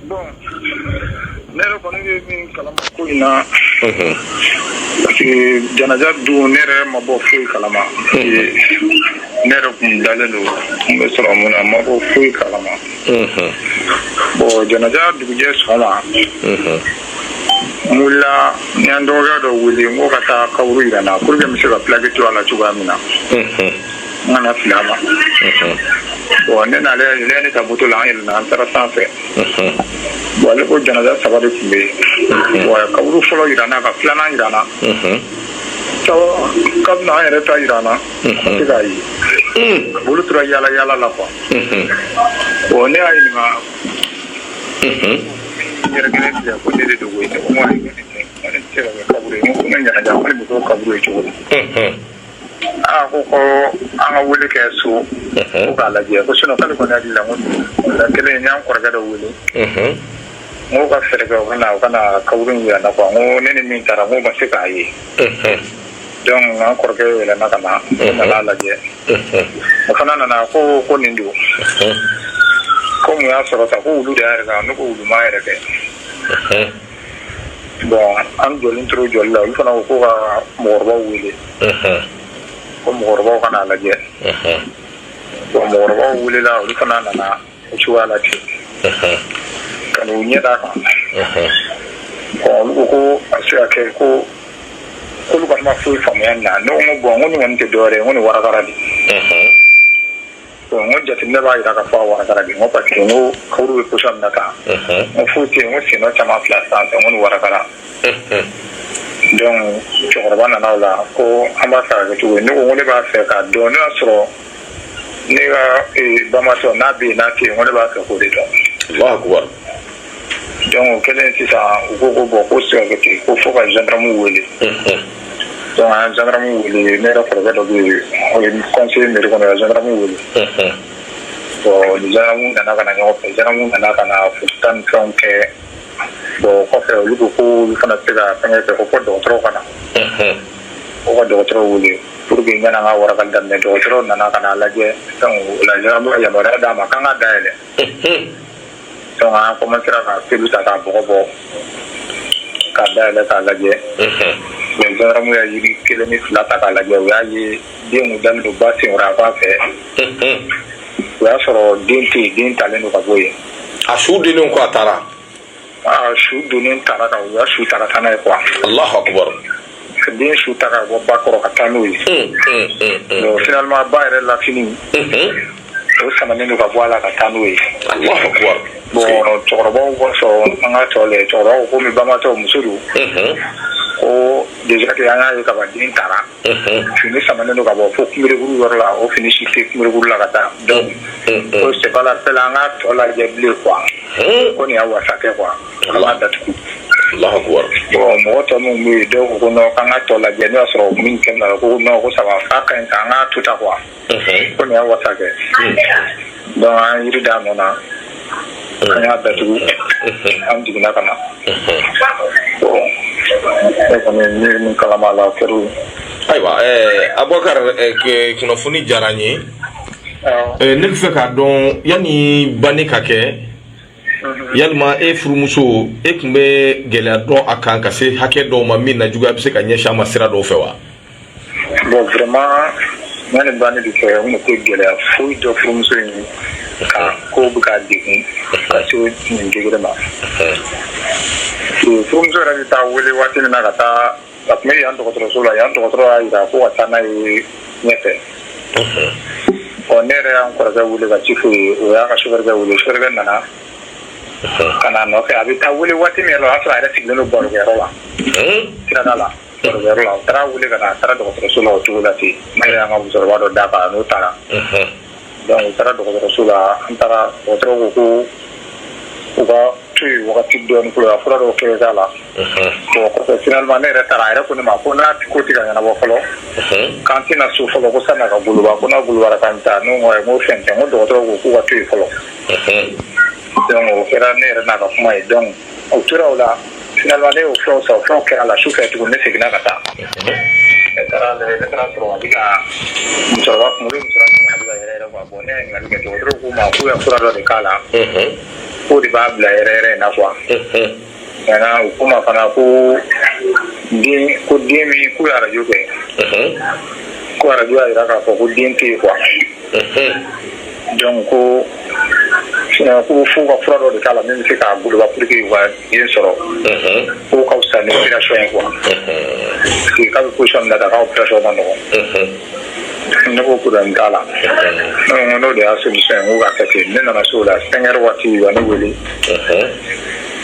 Bon ne yɛrɛ kɔni ye min kalama ko in na unhun parce que janaja don ne yɛrɛ ma bɔ foyi kalama Ee, ne yɛrɛ kun dalen don n bɛ sɔrɔ mun na n ma bɔ foyi kalama unhun bon janaja dugujɛ sɔgɔma unhun n wulila n y'an dɔgɔkɛ dɔ wele n ko ka taa kaburu yira n na pour que n bɛ se ka plaque to a la cogoya min na unhun N kana fili a ma. Unhun. Bon ne n'ale ale ye ne ta moto la an yɛlɛna an taara san fɛ. Unhun. Bon ale ko janaja saba de tun bɛ yen. Bon a ye kaburu fɔlɔ yira n na ka filanan yira n na. Unhun. Sabanan k'a bɛna an yɛrɛ ta yira n na. Unhun. A tɛ k'a ye. Un. Bon olu tora yaala yaala la quoi. Unhun. Bon ne y'a ɲininka Unhun. n yɛrɛ kelen filɛ ko nin de don koyi. Ne ko n ko ayi, nin tɛ se ka kɛ kaburu ye. N ko ne janaja ko ne bɛ k'o kaburu ye cogo di? Unhun. Aa ko ko an ka wuli kɛ so k'a lajɛ ko sun kɔni la kelen y'an kɔrɔkɛ dɔ wuli mɔgɔw ka fɛɛrɛ ka ka kab jira na ko ne ni min taara ma se k'a ye dɔnku an kɔrɔkɛ yɛlɛ ka na lajɛ o fana nana ko ko nin don ko y'a sɔrɔ ta ko wu yɛrɛ kan n ko wu yɛrɛ kɛ bon an jɔlen tora jɔli la olu fana ko ko ka mɔgɔkɔrɔbaw wele ko mɔgɔkɔrɔbaw ka n'a lajɛ bon mɔgɔkɔrɔbaw welela olu fana nana o cogoya la ten ka n'u ɲɛ d'a kan bon olu ko ko a se ka kɛ ko k'olu kɔni ma foyi faamuya nin na ne ko n ko bon n ko nin kɔni tɛ dɔwɛrɛ ye n ko nin warakara de jate ne b'a jira ka fɔ wa pa que furu bɛ kusa na kan n foyi ten n sen caman fila san fɛ ko warakala dɔnku cɛkɔrɔba nana la ko an b'a fɛ kɛ cogo ne ko ne b'a fɛ ka dɔn ne y'a sɔrɔ ne ka bama n'a bɛ n'a ko ne b'a fɛ ko de dɔn kɛlen sisan u ko ko bɔn ko sɛte ko fo ka zdamu wele zdamu wele ne yɛrɛ kɔrɔkɛ dɔ kɔnse mi kɔnɔ zdamu wele bɔnmu nana ka ɲɔgɔn fɛ zmu nana ka na fu tan ni fɛn kɛ bɔn kɔfɛ olu ko ko olu fana se ka fɛn fɛ ko fɔ dɔgɔtɔrɔw kana o ka dɔgɔtɔrɔw wele pur que ɲɛna ka wara daminɛ dɔgɔtɔrɔw nana ka lajɛ la yama d'a ma k' ka da yɛlɛ Donc an commencera ka peluw ta ka bɔgɔ bɔ k'a dayɛlɛ k'a lajɛ unhun mais gendarme y'a yiri kelen ni fila ta k'a lajɛ u y'a ye den kun dalen don ba senkɔrɔ a fan fɛ unhun o y'a sɔrɔ den tɛ yen den talen don ka bɔ yen a su donnen quoi a taara a su donnen taara ka u y'a su ta ka taa n'a ye quoi allahu akbar den su ta ka bɔ ba kɔrɔ ka taa n'o ye finalement ba yɛrɛ la fini o samanen don ka bɔ a la ka taa n'o ye bon cɛkɔrɔbaw ko sɔn an ka tɔ lajɛ cɛkɔrɔbaw ko komi bamatɔ muso don ko déjà que an y'a ye kaban den taara fini samanen don ka bɔ fo kunberekuru yɔrɔ la o fini si tɛ kunberekuru la ka taa donc ko c'est pas la peine an k'a tɔ lajɛ bilen quoi ko nin y'a wasa kɛ quoi an k'a datugu Allahu akbar bon mɔgɔ tɔ minnu bɛ yen dɔw ko non k'an ka tɔ lajɛ n'o y'a sɔrɔ min kɛlen na ko non ko ça va k'a ka ɲi k'an k'a to tan quoi ko nin y'a wasa kɛ donc an ye jiri d'a nɔ na an y'a datugu an jiginna ka na bon ne kɔni bɛ min kalama la o kɛra ayiwa Abubakar kunnafoni diyara n ye ne b'a fɛ k'a dɔn yanni banni ka kɛ yalima e furumuso e tun bɛ gɛlɛya dɔn a kan ka se hakɛ dɔw ma min na juguya bɛ se ka ɲɛsin a ma sira dɔw fɛ wa bon vraiment ne ni ba ne de fɛ n tɛ gɛlɛya foyi dɔn furumuso in kan ko bɛ ka degun ka se nin degré ma furumuso yɛrɛ bɛ taa wele waati min na ka taa a tun bɛ yan dɔgɔtɔrɔso la yan dɔgɔtɔrɔ y'a jira ko ka taa n'a ye ɲɛfɛ bon ne yɛrɛ y'an kɔrɔkɛ wele ka ci f'o ye o y'a ka sofɛrikɛ wele sofɛrikɛ nana ka n'a nɔfɛ a bɛ taa wele waati min yɛrɛ la o y'a sɔrɔ a yɛrɛ sigilen don barokɛyɔrɔ la sirada la barokɛyɔrɔ la o taara wele ka na a taara dɔgɔtɔrɔso la o cogo la ten ne yɛrɛ y'an ka musokɔrɔba dɔ d'a kan n'o taara donc u taara dɔgɔtɔrɔso la an taara dɔgɔtɔrɔ ko ko u ka to yen wagati dɔɔni fɔlɔ ka fura dɔw kɛ k'a la bon kɔfɛ finalement ne yɛrɛ taara a yɛrɛ ko ne ma ko n'a ko tɛ ka ɲɛnabɔ fɔlɔ k'an tɛ na so fɔlɔ ko sanni a ka goloba ko n'a golobara k'an bɛ taa ne ko ayi n ko fɛn tɛ n ko dɔgɔtɔrɔ ko k'u ka to yen fɔlɔ donc o kɛra ne yɛrɛ n'a ka kuma ye donc o tora o la finalement ne y'o fɛnw san o fɛnw kɛra a la sufɛ tuguni ne seginna ka taa ne taara lajɛ ne taara sɔrɔ a bɛ ka musokɔrɔba kun bɛ musokɔrɔba kun a bɛ ka yɛrɛyɛrɛ quoi bon ne ye ɲininkali kɛ dɔgɔtɔrɔw ko n ma k'u ye fura dɔ de k'a la k'o de b'a bila yɛrɛyɛrɛ in na quoi maintenant u ko n ma fana ko den ko den min k'u ye arajo kɛ ko arajo y'a jira k'a fɔ ko den tɛ yen quoi donc ko ko fo ka fura dɔ de k'a la min bɛ se k'a goloba pour que u ka den sɔrɔ k'o ka fisa ni opération ye quoi parce que k'a bɛ position min na tan k'a opération ma nɔgɔn ne ko problème t'a la ne ko n'o de y'a solution ye n ko k'a kɛ ten ne nana so o la cinq heures waati u ye ne wele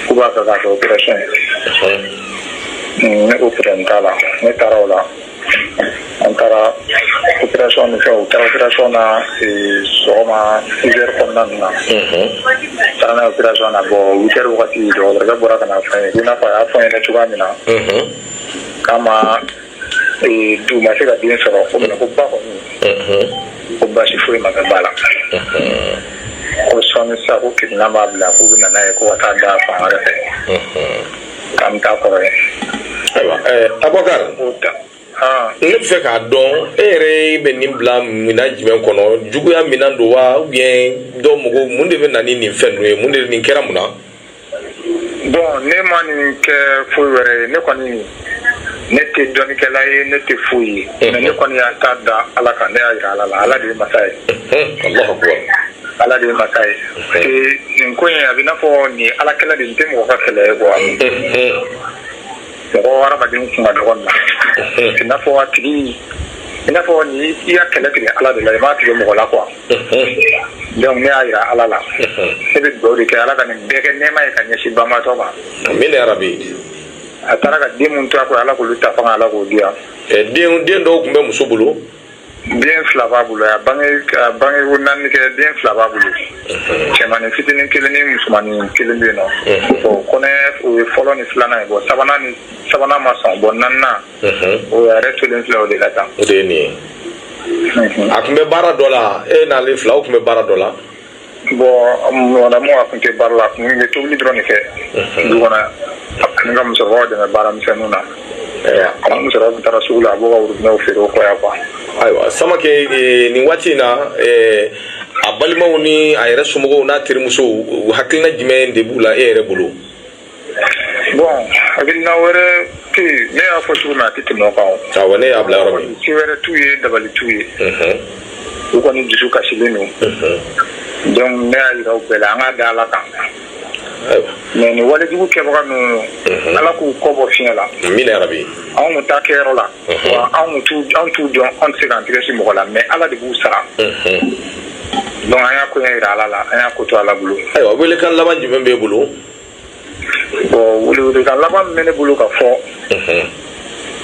k'u b'a fɛ k'a kɛ opération ye ne ko problème t'a la ne taara o la an taara opération de kɛ u taara opération na sɔgɔma 6 heures kɔnɔna ninnu na u taara n'a ye opération na bon 8 heures wagati dɔgɔtɔrɔkɛ bɔra ka n'a fɔ an ye ko i n'a fɔ a y'a fɔ an ɲɛna cogoya min na k'a ma du ma se ka den sɔrɔ ko mais ko ba kɔni ko baasi foyi ma kɛ ba la ko sɔɔni sisan ko kirinan b'a bila k'u bɛ na n'a ye ko ka taa da fan wɛrɛ fɛ. K'an bɛ taa kɔrɔ ye. Ayiwa ɛɛ Abubakari. N b'o ta. Haan. Ne bɛ fɛ k'a dɔn e yɛrɛ bɛ nin bila minan jumɛn kɔnɔ juguya minan don wa ou bien dɔ mɔgɔw mun de bɛ na ni nin fɛn ninnu ye mun de nin kɛra mun na. Bon ne ma nin kɛ foyi wɛrɛ ye ne kɔni ne tɛ dɔnnikɛla ye ne tɛ foyi ye. Unhun. Mais ne kɔni y'a ta da Ala kan ne y'a jira Ala la Ala de ye masa ye. Unhun Alahu akibaru. Ala de ye mansa ye parce que nin ko in a bɛ i n'a fɔ nin ye Ala kɛlɛ de ye nin tɛ mɔgɔ ka kɛlɛ ye quoi mɔgɔ hadamadenw kun ka dɔgɔ nin na c'est i n'a fɔ a tigi i n'a fɔ ni i y'a kɛlɛ tigɛ Ala de la i m'a tigɛ mɔgɔ la quoi donc ne y'a jira Ala la ne bɛ dugawu de kɛ Ala ka nin bɛɛ kɛ nɛɛma ye ka ɲɛsin banbaatɔ ma Amina yarabi a taara ka den minnu to a kɔ Ala k'olu ta fanga Ala k'o di yan den den dɔw tun bɛ muso bolo den fila b'a bolo a bange a bange ko naani kɛ den fila b'a bolo cɛmanin fitinin kelen ni musomanin kelen bɛ yen nɔ bon kɔnɔ o ye fɔlɔ ni filanan ye bon sabanan nin sabanan ma sɔn bon naaninan o yɛrɛ tolen filɛ o de la tan o de ye nin ye a tun bɛ baara dɔ la e n'ale fila o tun bɛ baara dɔ la Bon mɔgɔdamu a tun tɛ baara la a tun bɛ tobili dɔrɔn de kɛ du kɔnɔ ani ka musokɔrɔba dɛmɛ baaramisɛn ninnu na a musokɔrɔba taara sugu la a b'o ka worobinɛw feere o kɔ yan quoi ayiwa Samakɛ nin waati in na a balimaw ni a yɛrɛ somɔgɔw n'a terimusow hakilina jumɛn de b'u la e yɛrɛ bolo bon hakilina wɛrɛ tɛ yen ne y'a fɔ cogo min a tɛ tɛmɛ o kan o. awɔ ne y'a bila yɔrɔ min. se wɛrɛ t'u ye dabali t'u ye. u kɔni dusu kasilen don. donc ne y'a yira u bɛɛ la an k'a da ala kan. mais nin walejugu kɛbaga ninnu ala k'u kɔ bɔ fiɲɛ la amina yarabi anw kun t'a kɛyɔrɔ la wa anw t'u dɔn anw tɛ se k'an tɛgɛ sin mɔgɔ la mais ala de b'u sara donc an y'a koɲɛ jira ala la an y'a ko to ala bolo ayiwa welekan laban jumɛn b'e bolo bon welekan laban min bɛ ne bolo ka fɔ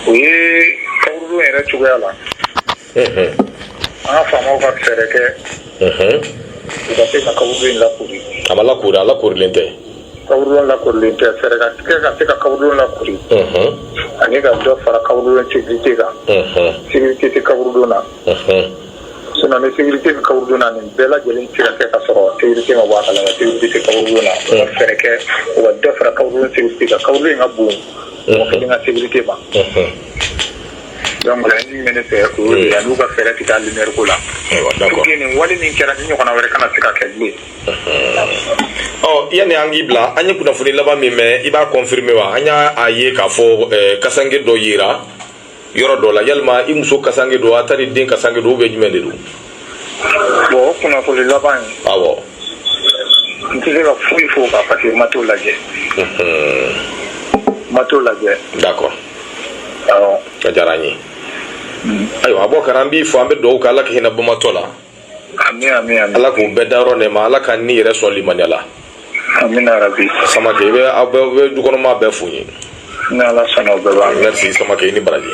o ye kaburudon yɛrɛ cogoya la an ka faamaw ka fɛɛrɛ kɛ u ka se ka kaburudon in lakori a ma lakori a lakorilen tɛ kaburudon lakorilen tɛ fɛɛrɛ ka tigɛ ka se ka kaburudon lakori ani ka dɔ fara kaburudon sécurité kan sécurité tɛ kaburudon na Sinon ni sécurité bɛ kaburudon na nin bɛɛ lajɛlen tɛ se ka kɛ ka sɔrɔ sécurité ma bɔ a kalama sécurité tɛ kaburudon na u ka fɛɛrɛ kɛ u ka dɔ fara kaburudon sécurité kan kaburudon in ka bon mɔgɔ kelen ka sécurité ma donc laɲini min bɛ ne fɛ o y'o de ye an'u ka fɛɛrɛ tigɛ a lumière ko la Ayiwa, d'accord. pour que nin wale min kɛra ni ɲɔgɔnna wɛrɛ kana se ka kɛ bilen ɔ yanni an k'i bila an ye kunnafoni laban min mɛn i b'a confirmer wa an y'a a ye k'a fɔ eh, kasange dɔ yera yɔrɔ dɔ la yalima i muso kasange don a tari den kasange don ou bien jumɛn de don bon o kunnafoni laban ye awɔ n tɛ se ka foyi fɔ o kan parce que n ma t'o lajɛ n ma t'o lajɛ d'accord awɔ a diyara an ye ayiwa Abubakar an b'i fo an bɛ dugawu kɛ ala ka hinɛ banbaatɔ la ala k'u bɛɛ da yɔrɔ nɛɛma ala k'an yɛrɛ sɔn limaniya la amina rabi Samake aw bɛ dukɔnɔmaa bɛɛ fo n ye ni ala sɔnna i ni baraji